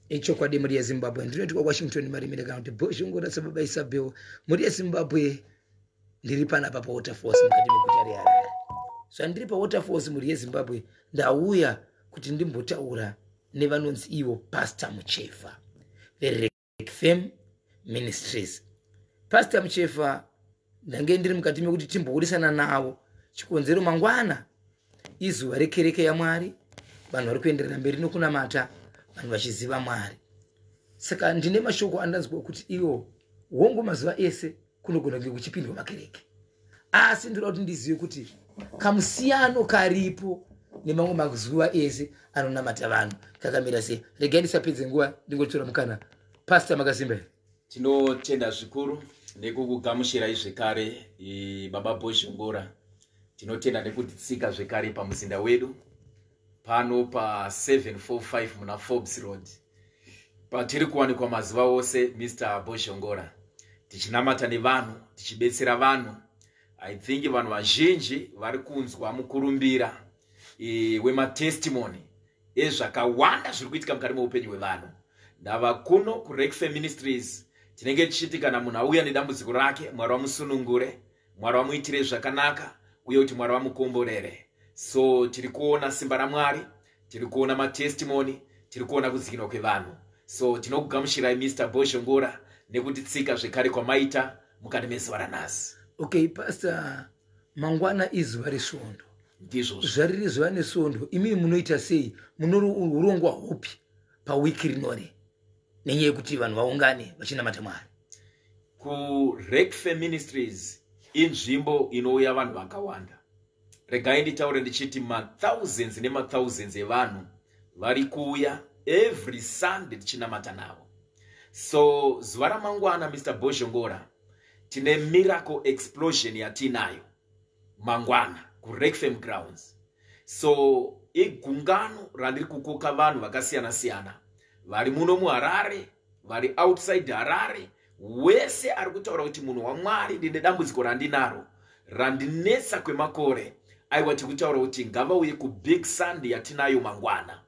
ichokwadi mhuri yezimbabwe ndinoti kwawashington marimire kana kuti bozhongora sababa isabel mhuri yezimbabwe ndiri panapa pawaterfalls mukati meguta reharare zvandiri pawaterfalls mhuri yezimbabwe ndauya kuti ndimbotaura nevanonzi ivo pastor mucheva Fame Ministries. Pastor Muchefa ndange ndiri mukati mekuti timboburisana navo chikonzero mangwana izuva rekereke yaMwari vanhu vari kuenderera mberi nokunamata vanhu vachiziva Mwari saka ndine mashoko andanzwa kuti iwo hongu mazuva ese kunogona kunge kuchipindwa makereke asi ndinoda kuti ndizive kuti kamusiyano karipo nemamwe mazuva ese anonamata vanhu kakamira sei regai ndisapedze nguva ndingotora mukana pasta makasimba here tinotenda zvikuru nekukugamushirai zvekare baba bozhongora tinotenda nekutitsika zvekare pamuzinda wedu pano pa745 muna forbes road patiri kuwanikwa mazuva ose mr bozhongora tichinamata nevanhu tichibetsera vanhu i think vanhu vazhinji vari kunzwa mukurumbira e, wematestimony ezvakawanda zviri kuitika mukati meupenyu hwevanhu ndava kuno kurekfe ministries tinenge tichiti kana munhu auya nedambudziko rake mwari wamusunungure mwari vamuitire zvakanaka uye kuti mwari vamukomborere so tiri kuona simba ramwari tiri kuona matestimony tiri kuona kudzikinwa kwevanhu so tinokugamushirai mr bozhongora nekutitsika zvekare kwamaita mukati mezuva ranhasi okay pastor mangwana izuva resvondo ndizvo zvariri zuva nesvondo imii munoita sei munourongwa hupi pawiki rinori nenyaya yekuti vanhu vaungane vachinamata mwari kurekfe ministries inzvimbo inouya vanhu vakawanda regai nditaure ndichiti mathousands nemathousands evanhu vari kuuya every sunday tichinamata navo so zuva ramangwana mr bozhongora tine miracle explosion yatiinayo mangwana kurekfam grounds so igungano randiri kukoka vanhu vakasiyana siyana vari muno muharare vari outside harare wese ari kutaura kuti munhu wamwari ndine dambudziko randinaro randinetsa kwemakore aiwa tiri kutaura kuti ngavauye kubig sund yatinayo mangwana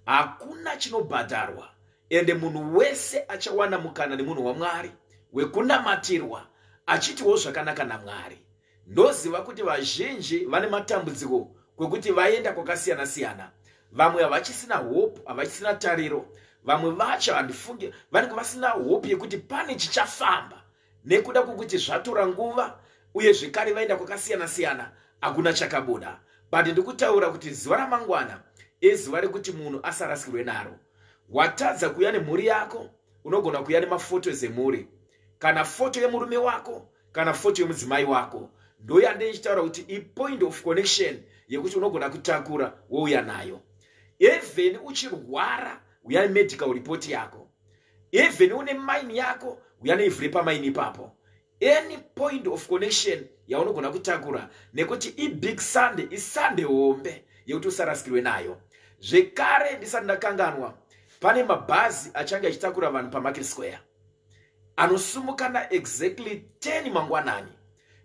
hakuna chinobhadharwa ende munhu wese achawana mukana nemunhu wamwari wekunamatirwa achitiwo zvakanaka namwari ndoziva kuti vazhinji vane matambudziko kwekuti vaenda kwakasiyana siyana vamwe havachisina hope havachisina tariro vamwe vacho handifunge vanenge vasina hope yekuti pane chichafamba nekuda kwokuti zvatora nguva uye zvekare vaenda kwakasiyana siyana hakuna chakabuda but ndikutaura kuti zuva ramangwana izuva rekuti munhu asarasikirwe naro watadza kuya nemhuri yako unogona kuya nemafotos emhuri kana foto yemurume wako kana foto yemudzimai wako ndoyande ichitaura kuti ipoint of connection yekuti unogona kutakura wouya nayo even uchirwara uya nemedical report yako even une mine yako uya neivhu repamaini ipapo any point of connection yaunogona kutakura nekuti ibig sunday isunday hombe yekuti usarasikirwe nayo zvekare ndisati ndakanganwa pane mabhazi achange achitakura vanhu pamarket square anosumukana exactly 10 mangwanani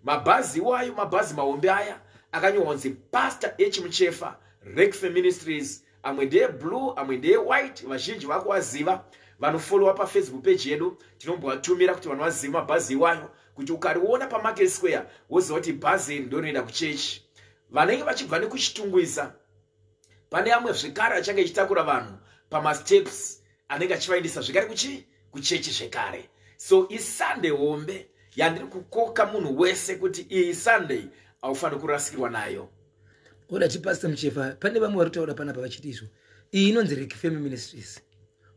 mabhazi iwayo mabhazi mahombe aya akanyorwa kunzi pastor h muchefa rekfe ministries amwe ndeye blue amwe ndeye white vazhinji vakuwaziva vanofollowa pafacebook page yedu tinombovatumira kuti vanovaziva mabhazi iwayo kuti ukariona pamarket square woziva kuti bhazi iri ndorinoenda kuchechi vanenge vachibva nekuchitungwiza pane amwe zvekare achange ichitakura vanhu pamasteps anenge achivaendesa zvekare kuchii kuchechi zvekare so isunday hombe yandiri kukoka munhu wese kuti iyi sunday haufaniri kurasikirwa nayo oda chipasta muchefa pane vamwe vari kutaura panapa vachiti izvo iyi inonzi rekifemi ministries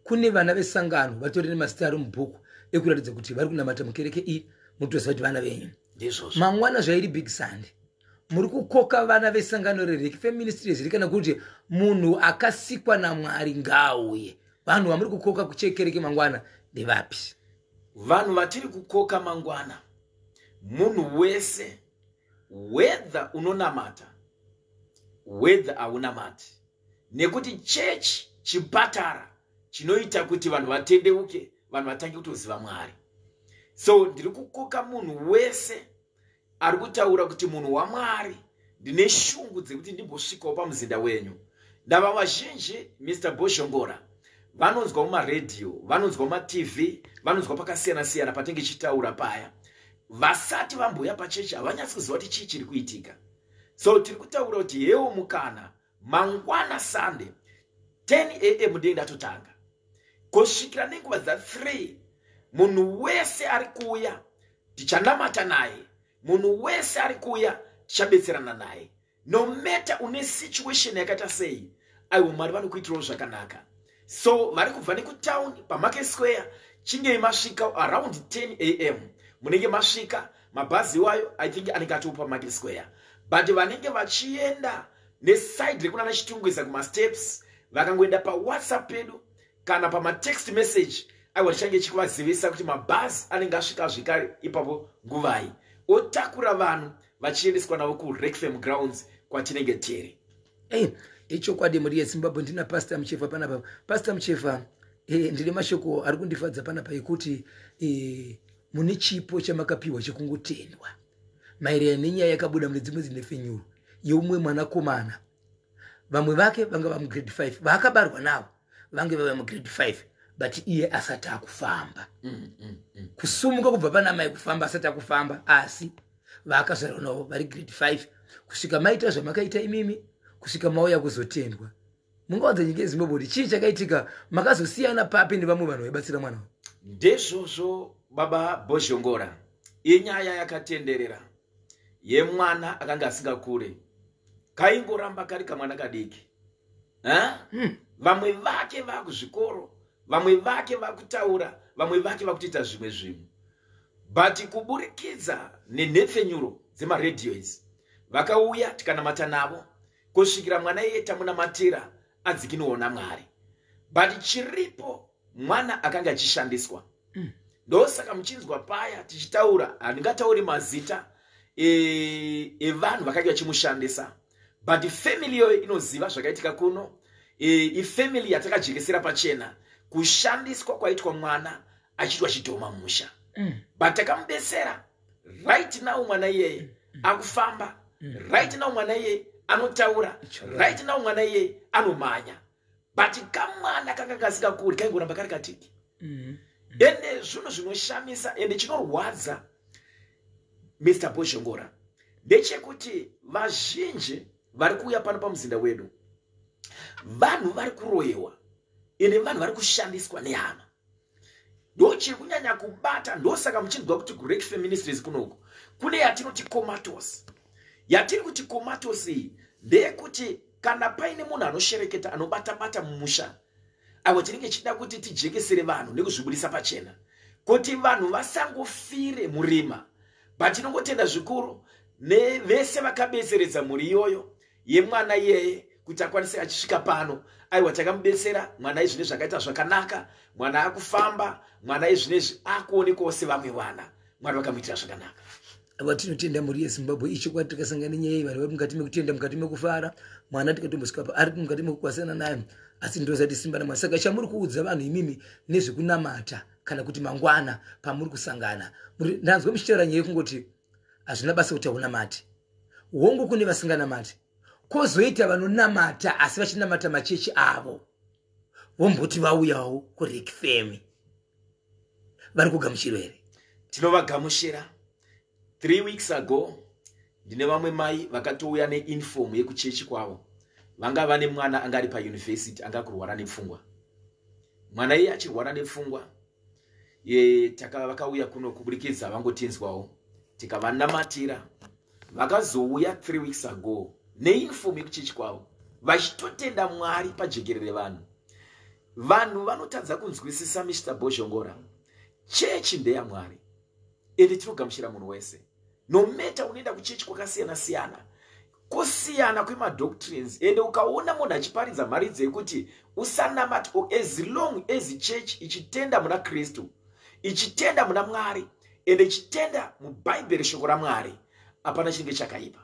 kune vana vesangano vatori nemazita ari mubhuku ekuratidza kuti vari kunamata mukereke iyi mutoziva kuti vana venyu ndizvozvo mangwana zvairi big sunday muri kukoka vana vesangano rereki feministries ri kana kuti munhu akasikwa namwari ngaauye vanhu vamuri kukoka kuchekereke mangwana ndevapi vanhu vatiri kukoka mangwana munhu wese wedha unonamata wedha haunamati nekuti chechi chipatara chinoita kuti vanhu vatendeuke vanhu vatange kutoziva mwari so ndiri kukoka munhu wese ari kutaura kuti munhu wamwari ndine shungu dzekuti ndimbosvikawo pamuzinda wenyu ndava vazhinji mr bozhongora vanonzwa mumaredhiyo vanonzwa mumatv vanonzwa pakasiyana siyana patinge chitaura paya vasati vambuya pachechi havanyatsi kuziva kuti chii chiri kuitika so tiri kutaura kuti hewo mukana mangwana sunday 10 am ndee ndatotanga kosvikira nenguva dza 3 munhu wese ari kuuya tichanamata naye munhu wese ari kuuya tichabetserana naye no matter une situation yakaita sei aiwo mwari vanokuitirawo zvakanaka so vari kubva nekutown pamarket square chingei masvika around 10 am munenge masvika mabhazi iwayo i think anenge atopa market square but vanenge vachienda nesaidi rekunana chitungwiza kumasteps vakangoenda pawhatsapp pedu kana pamatext message aiwa chichange chikuvazivisa kuti mabhazi anenge asvika zvekare ipapo nguvai otakura vanhu vachiendeswa navo kureckfam grounds kwatinenge tiri hey, eh, ichokwadi mhuri yezimbabwe ndina pasta muchefa panapa pasta muchefa hey, eh, ndine mashoko ari kundifadza panapa ekuti hey, eh, mune chipo chamakapiwa chekungotendwa maererano nenyaya yakabuda mune dzimwe dzinhepfenyuro yeumwe mwanakomana vamwe vake vanga vamugrade 5 vaakabarwa navo vange vava mugrade 5 but iye asati akufamba mm, mm, mm. kusumuka kubva pana mai kufamba asati akufamba asi vaakazvarwa navo vari grade 5 kusvika maita zvamakaita imimi kusvika mauya kuzotendwa mungaudza nyika yezimbabwe kuti chii chakaitika makazosiyana papi nevamwe vanhu vaibatsira mwana ndezvozvo baba bozhongora inyaya yakatenderera yemwana akanga asingakure kaingoramba kari kamwana kadiki hmm. vamwe vake vakuzvikoro vamwe vake vakutaura vamwe vake vakutoita zvimwe zvimwe but kuburikidza nenhepfenyuro dzemaredio idzi vakauya tikanamata navo kusvikira mwana iye tamunamatira adzikinwewo namwari but chiripo mwana akanga achishandiswa mm. ndosaka muchinzwa paya tichitaura handingatauri mazita e, evanhu e vakanga vachimushandisa but family iyoyo inoziva zvakaitika kuno e, ifamily yatakajekesera pachena kushandiswa kwaitwa mwana achiitwa chidhoma musha mm. but takamubesera right now mwana iyeye mm. akufamba mm. right now mwana iyeye anotaura right now mwana iyeye anomhanya but kamwana kanga kasikakuri kaingoramba kari katiki mm. ende zvinhu zvinoshamisa ende chinorwadza mr bozhongora ndechekuti vazhinji vari kuuya pano pamuzinda wedu vanhu vari kuroyewa ende vanhu vari kushandiswa nehama ndochiri kunyanya kubata ndosaka muchinzwa kuti kurek feministries kunoku kune yatinoti comatos yatiri kuti comatos iyi ndeyekuti kana paine munhu anoshereketa anobata bata mumusha avo tinenge tichida kuti tijekesere vanhu nekuzvibudisa pachena kuti vanhu vasangofire murima but tinongotenda zvikuru nevese vakabeseredza mhuri iyoyo yemwana iyeye kuti akwanise achisvika pano aiwa takamubetsera mwana izvi nezvi akaita zvakanaka mwana akufamba mwana izvi nezvi akuonekwawo sevamwe vana mwari vakamuitira zvakanaka ava tinotenda mhuri yezimbabwe ichokwadi takasangana nenyaya yevanhu vari mukati mekutenda mukati mekufara mwana tikatombosvikapa ari mukati mekukwasana naye asi ndozati simba namwana saka chamuri kuudza vanhu imimi nezvekunamata kana kuti mangwana pamuri kusangana ndanzwa muchitaura nyaya yekungoti hazvina basa kuti haunamati hongu kune vasinganamati kozoita vanonamata asi vachinamata machechi avo vomboti vauyawo kurikfemi vari kugamuchirwa here tinovagamushira three weeks ago ndine vamwe mai vakatouya neinfom yekuchechi kwavo vanga vane mwana anga ari payunivhesiti anga kurwara nepfungwa mwana iye achirwara nepfungwa e, taka vakauya kuno kuburikidza vangotinzwawo tikavanamatira vakazouya three weeks ago neinfomu yekuchechi kwavo vachitotenda mwari pajekerere vanhu vanhu vanotadza kunzwisisa mr bozhongora chechi ndeyamwari ende tinogamuchira munhu wese no matter unoenda kuchechi kwakasiyana siyana kusiyana kwemadoctrines ende ukaona munhu achiparidza mharidzi yekuti usanamati o as long as church ichitenda muna kristu ichitenda muna mwari ende ichitenda mubhaibheri shoko ramwari hapana chinenge chakaipa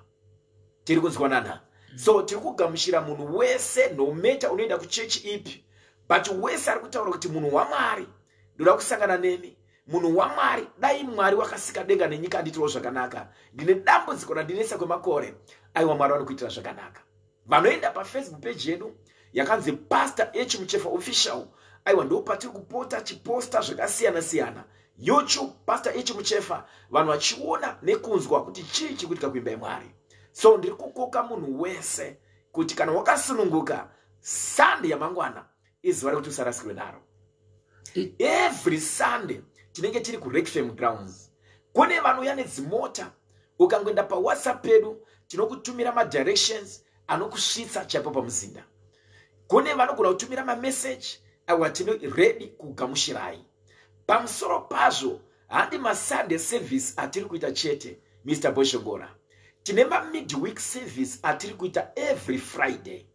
tiri kunzwanana mm. so tiri kugamuchira munhu wese no matter unoenda kuchechi ipi but wese ari kutaura kuti munhu wamwari ndoda kusangana nemi munhu wamwari dai mwari wakasika denga nenyika anditirawo zvakanaka ndine dambudziko randinetsa kwemakore aiwa mwari vanokuitira zvakanaka vanoenda pafacebook peji yedu yakanzi pastor echimuchefa official aiwa ndo patiri kupota chiposta zvakasiyana siyana youtube pastor echimuchefa vanhu vachiona nekunzwa kuti chii chiri kuitika kuimba yemwari so ndiri kukoka munhu wese kuti kana wakasununguka sande yamangwana izuva rekuti usarasikirwe naro every sunday tinenge tiri kureckfam grounds kune vanouya nedzimota ukangoenda pawhatsapp pedu tinokutumira madirections anokusvitsa chaipo pamuzinda kune vanogona kutumira mameseji awa tino redi kugamushirai pamusoro pazvo handi masunday service atiri kuita chete mr boshongora tine mamidweek service atiri kuita every friday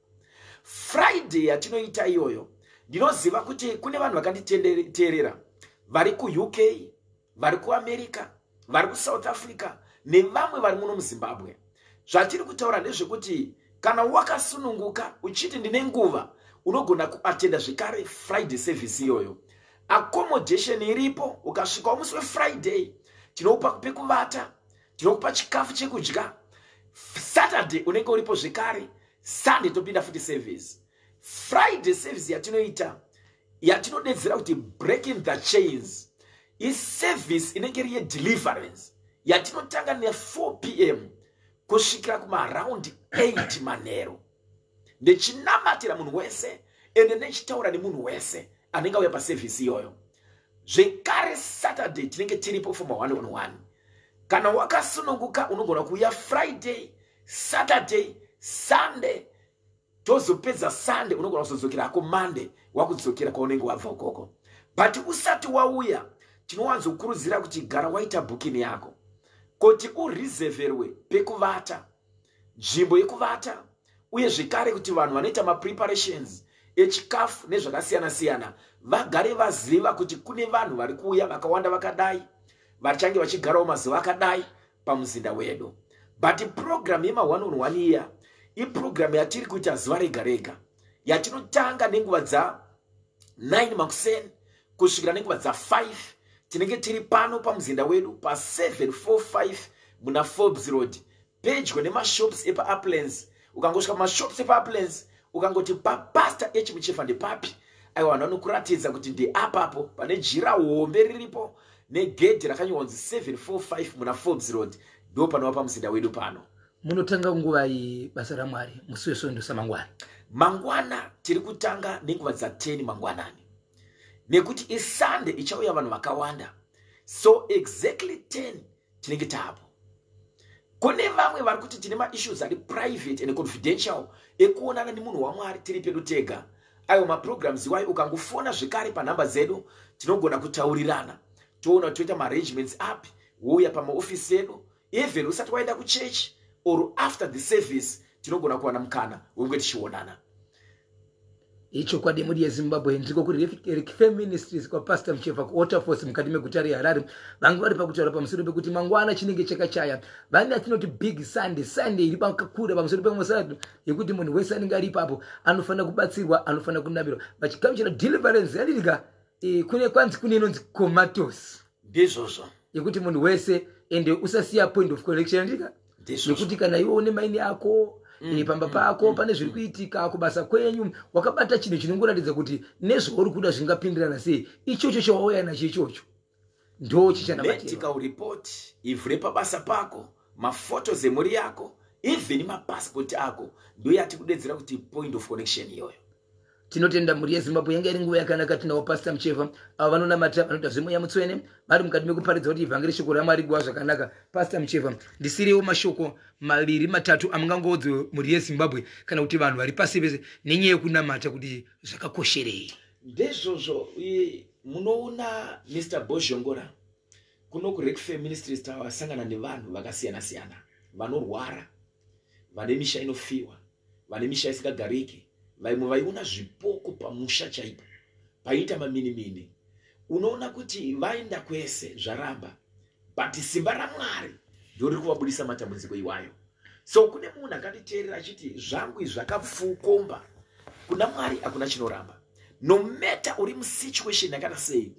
friday yatinoita iyoyo ndinoziva kuti kune vanhu vakanditeerera vari kuuk vari kuamerica vari kusouth africa nevamwe vari muno muzimbabwe zvatiri kutaura ndezvekuti kana wakasununguka uchiti ndine nguva unogona kuatenda zvekare friday service iyoyo accommodation iripo ukasvikawo musi wefriday tinopa pekuvata tinokupa chikafu chekudya saturday unenge uripo zvekare sunday topinda futi service friday service yatinoita yatinodedzera kuti breaking the chains iservice inenge iri yedeliverance yatinotanga ne4 p m kusvikira kumaraundi 8 manhero ndechinamatira munhu wese ende ndechitaura nemunhu wese anenge auya pasevhisi iyoyo zvekare saturday tinenge tiripo for maone on one kana wakasununguka unogona kuuya friday saturday sunday tozopedza sunday unogona kuzodzokera ako monday wakudzokera kwaunenge wabva ukoko but usati wauya tinowanzokurudzira kuti gara waita booking yako kuti ureserverwe pekuvata nzvimbo yekuvata uye zvekare kuti vanhu vanoita mapreparations echikafu nezvakasiyana siyana vagare vaziva kuti kune vanhu vari kuuya vakawanda vakadai vachange vachigarawo mazuva akadai pamuzinda wedu but program yema one on one year iprogram yatiri kuita zuva rega rega yatinotanga nenguva dza 9 makuseni kusvikira nenguva dza 5 tinenge tiri pano pamuzinda wedu pa 745 muna forbes road pedyo nemashops epauplands ukangosvika pamashops epauplands ukangoti papasta echimuchefa ndepapi aiwa vanhu vanokuratidza kuti ndeapapo pane jira hombe riripo negedhi rakanyorwa kunzi 745 muna forbes road ndo panova pamuzinda wedu pano munotanga nguva iyi basa ramwari musi wesvondo samangwana mangwana tiri kutanga nenguva dza10 mangwanani nekuti isande ichauya vanhu vakawanda so exactly 10 tinenge taapo kune vamwe vari kuti tine maissues ari private and confidential ekuonana nemunhu wamwari tiri pedu tega ayo maprograms iwayo ukangofona zvekare panhamba dzedu tinogona kutaurirana toona toita maarrangements api wouya pamaofisi edu even usati waenda kuchechi or after the service tinogona kuwana mukana wenge tichionana ichokwadi yemudi yezimbabwe ndiko kuri rekife ministries kwapastor muchefa kuwaterfors mukati meguta reharare vange vari pakutaura pamusoro pekuti mangwana chinenge chakachaya vane atinoti big sunday sunday iri pakakura pamusoro pemosado yekuti munhu wese anenge ari ipapo anofanira kubatsirwa anofanira kunamirwa vachigamuchira deliverance yalirika e, kune kwanzi kune inonzi comatos ndizvozvo yekuti munhu wese ende usasiya point of collection yalirika Ndizvo. nekuti kana iwe une maini ako eh, pamba pako pane zviri kuitika kubasa kwenyu wakabata chinhu chinongoratidza kuti nezvauri kuda zvingapindirana sei ichocho chawauya nacho ichocho ndo chichanamatira medical report ivhu repabasa pako mafotos emhuri yako even mapassport ako ndoyatikudedzera kuti point of connection iyoyo tinotenda mhuri yezimbabwe yanga iri nguva yakanaka tinawo pasta mucheva avo vanonamata vanoita zvemweya mutswene vari mukati mekuparidza kuti ivhangeri shoko ramwari guva zvakanaka pasta mucheva ndisiriwo mashoko maviri matatu amungangoodzo mhuri yezimbabwe kana kuti vanhu vari pasi vese nenyaya yekunamata kuti zvakakosherei ndezvozvo munoona mr bozhongora kuno kurekfe ministries tawasangana nevanhu vakasiyana siyana vanorwara vane misha inofiwa vane misha isingagariki vaimwe vaiona zvipoko pamusha chaipo paiita maminimini unoona kuti vaenda kwese zvaramba but simba ramwari ndoriri kuvabudisa matambudziko iwayo so kune munhu akanditeerera achiti zvangu izvi zvakapfukomba kuna mwari hakuna chinoramba no matter uri musituation yakana sei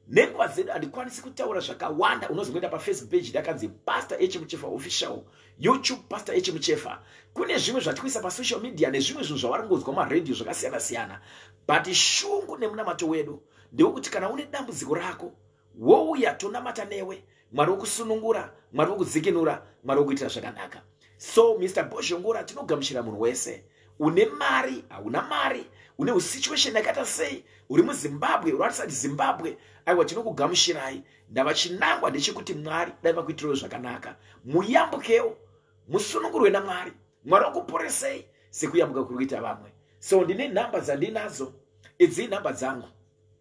nenguva dzedu handikwanisi kutaura zvakawanda unozoenda pafacebook page dakanzi pastor echemuchefa official youtube pastor echemuchefa kune zvimwe zvatikuisa pasocial media nezvimwe zvinhu zvavari kungonzwa maradio zvakasiyana siyana but shungu nemunamato wedu ndewekuti kana une dambudziko rako wouya tonamata newe mwari wokusunungura mwari wokudzikinura mwari wokuitira zvakanaka so mr bozhongora tinogamuchira munhu wese une mari hauna mari une usituation yakaita sei uri muzimbabwe unoratisa kuti zimbabwe aiwa tinokugamushirai ndavachinangwa ndechekuti mwari dai vakuitirawo zvakanaka muyambukewo musunungurwe namwari mwari wakuporesei sekuyambuka kuri kuita vamwe so ndine nhamba dzandinadzo idzi nhamba dzangu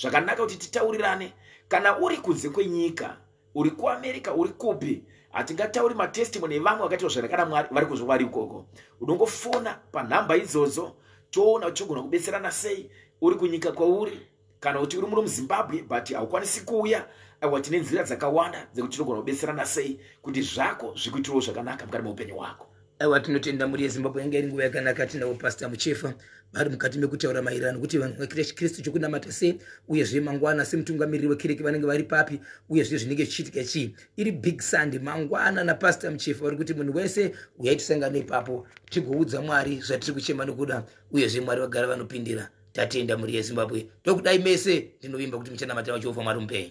zvakanaka kuti titaurirane kana uri kunze kwenyika uri kuamerica uri kupi hatingatauri matestimony evamwe vakaitwa zvakanakana mwari vari kunzwa vari ikoko unongofona panhamba idzodzo toona uchigona kubetserana sei uri kunyika kwauri kana kuti uri muri muzimbabwe but haukwanisi kuuya aiwa tine nzira dzakawanda dzekuti tinogona kubetserana sei kuti zvako zvikuitirawo zvakanaka mukati meupenyu hwako aiwa tinotenda mhuri yezimbabwe yanga iri nguva yakanaka tinawo pasta muchefa vari mukati mekutaura maererano nokuti vanhu vakirechi kristu chokunamata sei uyezve mangwana semutungamiriri wekereke vanenge vari papi uyezve zvinenge zvichiitika chii iri big sunday mangwana napasta muchefa vari kuti munhu wese uyai tisangane ipapo tigoudza mwari zvatiri kuchema nokuda uyezve mwari vagara vanopindira tatenda mhuri yezimbabwe ndokudai mese ndinovimba kuti muchanamata vachiwofa mwari mupenyu